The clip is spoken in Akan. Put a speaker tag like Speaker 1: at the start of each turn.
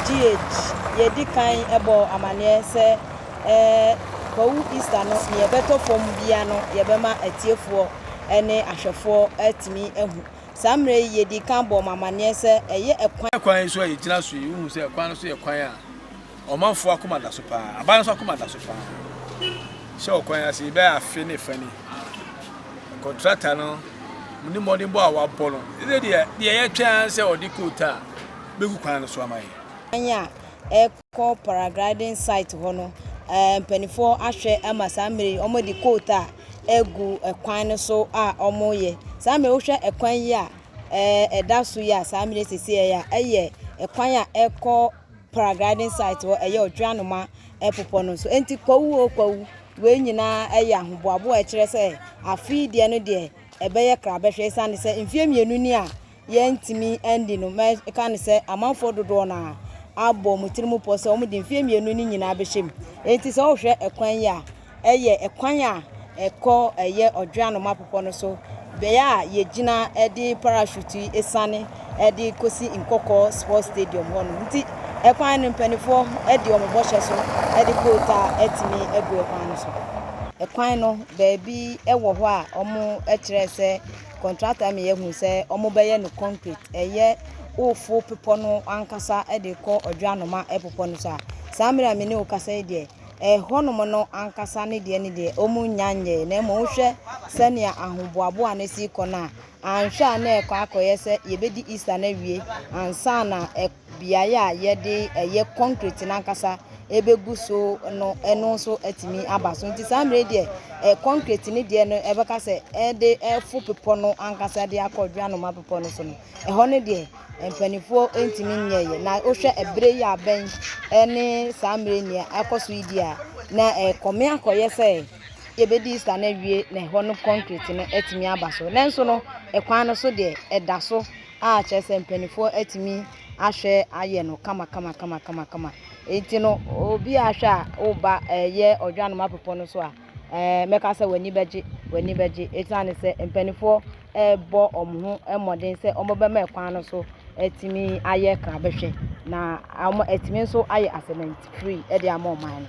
Speaker 1: GH, Yɛadi kan bɔɔ amanneɛ sɛ Kwawu Easter no, nea ɛbɛtɔ fam biara no yɛbɛma atiefoɔ ne ahwɛfoɔ atumi ahu. Saa mmerɛ yi yɛdii kan bɔɔ mo amanneɛ sɛ ɛyɛ ɛkwan. Kwan so a yɛgyina
Speaker 2: so yi, wohu sɛ kwan no so yɛ kwan a. Ɔmanfoɔ akoma da so paa. Aban nso akoma da so paa. Hyɛ wɔ kwan ase bɛyɛ afe ne fa ni. Kɔntrata no mo ne mmɔdenbɔ a wabɔ no ɛsɛ deɛ deɛ yɛtwɛn sɛ ɔde koot a bɛgu kwan no so ama yɛ. Kwan a
Speaker 1: ɛkɔ paragliding site hɔ no eh, mpanimfoɔ ahwɛ ama saa mmerɛ yi wɔde koot a ɛgu kwan no so a wɔyɛ. Saa mmerɛ wohwɛ ɛkwan yi a eh, ɛda so yi a saa mmerɛ sisi a ɛyɛ a ɛyɛ ɛkwan a ɛkɔ paragliding site hɔ, ɛyɛ Odweanoma bepɔ no so. Enti kwawu o kwawu, wei nyinaa yɛ ahoboaboa a ɛkyerɛ sɛ afe yi deɛ no deɛ ɛbɛyɛ krabɛhwɛ esiane sɛ mfeɛ mmienu ni a yɛntumi andi no. Mɛka no sɛ amanfoɔ dodoɔ no ara abɔ wɔn tirim pɔ sɛ wɔde mfeɛ mmienu no nyinaa bɛhyɛ mu. Enti sɛ wohwɛ kwan yi a, Ɛyɛ kwan a ɛkɔ ɛyɛ Odwe Anoma Bepɔ no so, bea a yegyina de parachute siane de kosi Nkɔkɔɔ Sports Stadium hɔ no. Nti ɛkwan no mpaninfoɔ de wɔn bɔhyɛ so de boat a atumi agu ɛkwan no so. Ɛkwan no baabi wɔ hɔ a wɔkyerɛɛ sɛ contractor ma yɛahu sɛ wɔbɛyɛ no concrete. Ɛyɛ wofo bepɔ no ankasa de kɔ Odwe Anoma Bepɔ no so a, saa mmerɛ a me ne wo kasa yi deɛ, ɛhɔnom no ankasa ne deɛ ne deɛ, wɔnnya nyɛe, na mmom wohwɛ sɛnea ahoboaboa no si kɔ no a, anhwɛ a na ɛkɔ akɔyɛ sɛ yɛbɛdi Easter no awie ansa na beaeɛ a yɛde ɛyɛ concrete no ankasa ɛbɛgu so no ɛno nso atumi aba so. Nti saa mmerɛ deɛ concrete no deɛ no ɛbɛka sɛ ɛde ɛfo bepɔ no ankasa de akɔ Dwanoma bepɔ no so no, ɛhɔ no deɛ Mpanimfoɔ ntumi nyɛeɛ na wohwɛ ɛberɛ yi abɛn ne saa mmerɛ yi nea akɔ so yi di a na ɛkɔme akɔyɛ sɛ yɛbɛdi Easter no awie na ɛhɔ no concrete no atumi aba so nanso no ɛkwan no so deɛ ɛda so a kyerɛ sɛ mpanimfoɔ atumi ahwɛ ayɛ no kama kama kama kama kama enti no obi ahwɛ a woba ɛyɛ ɔdwanom apepɔ no so a Ɛɛ, mɛka sɛ w'ani bɛgye, w'ani bɛgye esiane sɛ mpanimfoɔ rebɔ wɔn ho mmɔden sɛ wɔbɛma kwan no so atumi ayɛ krabɛhwɛ na wɔatumi nso ayɛ assignment free de ama ɔman no.